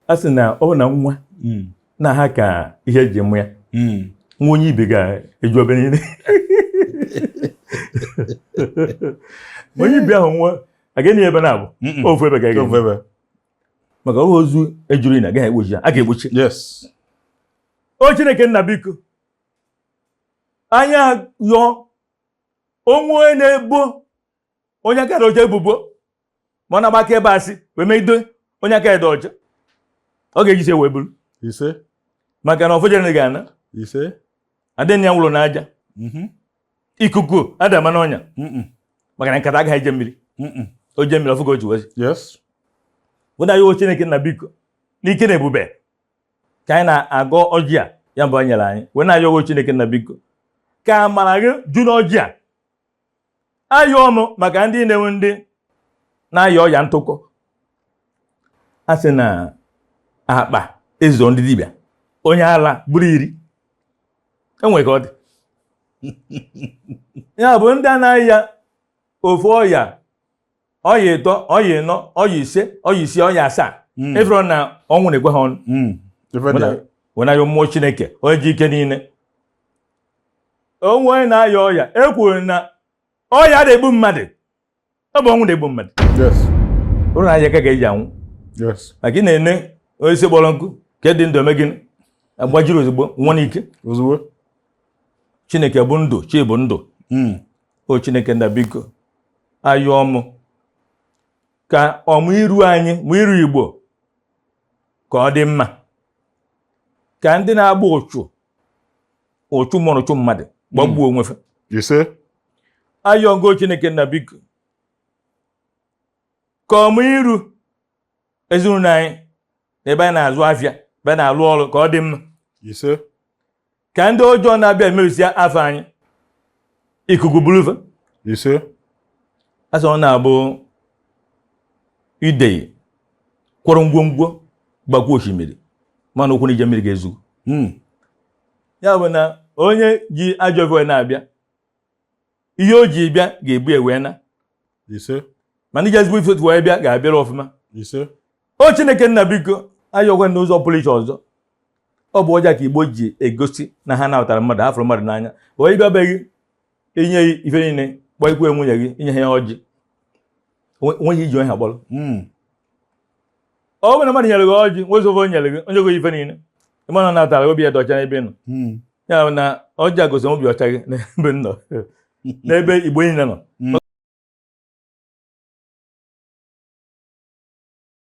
a sị na ọ bụ na nwa hmm. na-aha ka ihe e ji mụọ ya hmm. nwa onye ibi ga-eju ebe niile onye ibi ahụ nwa agaghị ebe na-abụ ofu ebe ga ebe maka ọhụ ozu ejuru ini agaghị egbochi ya a ga-egbochi o chineke nna biko anyị yọọ onwe na-ebo onye aka dị ọcha ebubo ma ọ na-agba akaebe asị wee megide onye aka dị ọcha ọ ga-eji isi wee buru ise maka na ọfọ jere na ga-ana ise adịghị ya nwụrụ n'aja mhm. ikuku ada ama n'ọnya maka na nkata agaghị eje mmiri o jee mmiri ọ fụ ka o ji wezi wụda ya chineke nna biko n'ike na ebube ka anyị na-agọ ọjị a ya mbụ nyere anyị wee na-ayọ o chineke nna biko ka amara gị ju n'ọjị a ayọọ mụ maka ndị na-enwe ndị na-aya ọya ntụkọ a sị na akpa ezo ndị dibịa onye ala bụrụ iri enwere ka ọ dị ya bụ ndị anaghị aya ofu ọya ọya ịtọ ọya ịnọ ọya ise ọya isii ọya asaa hmm. ị fụrụ na ọnwụ na-ekwe ha ọnụ hmm. wee na-ayọ mmụọ chineke onye ji ike niile o nwee onye na-aya ọya e kwuru na ọya ada egbu mmadụ ọ bụ ọnwụ na-egbu mmadụ ụrụ na anya ka ga-eji anwụ maka ị na-ene osisi kpọrọ nkụ nke dị ndụ eme gịnị agbajiri ozugbo nwụọ n'ike ozugbo chineke bụ ndụ chi bụ ndụ hmm. o chineke nna biko ayọọ mụ ka o mee iru anyị ma iru igbo ka ọ dị mma ka ndị na-agba ụchụ ụchụ mmụọ ụchụ mmadụ gbagbuo hmm. onwe fa ise ayọọ m gị o chineke nna biko ka o mee iru ezinụlọ anyị na ebe anyị na-azụ afịa ebe anyị na-alụ ọlụ ka ọ dị mma ise ka ndị ọjọọ na-abịa emerụsịa afa anyị ikuku bulu va ise a sị ọ na-abụ idei kwọrọ ngwongwo gbakwu osimiri mana ụkwụ na-eje mmiri ga-ezu hmm. ya bụ na onye ji ajọ ive na-abịa ihe o ji bịa ga-ebu ya wee naa ise mana onye ji ezigbo ife wee bịa ga-abịara ọfụma ise o chineke nna biko ayọkwa n'ụzọ pụrụ iche ọzọ ọ bụ ọjị ka igbo ji egosi na ha nabatara mmadụ ha fụrụ mmadụ n'anya onye bịa be gị i nye ife niile kpọkwuo nwunye gị i nyeghị ya ọjị o nweghị ihe o ji ha kpọrọ hmm. ọ bụrụ na mmadụ nyere gị ọjị wezie ofe nyere gị o nye gị ife niile ị ma na natara obi ya dị ọcha n'ebe ị nọ hmm. ya bụ na ọjị a gosi obi ọcha gị n'ebe nọ n'ebe igbo niile nọ hmm.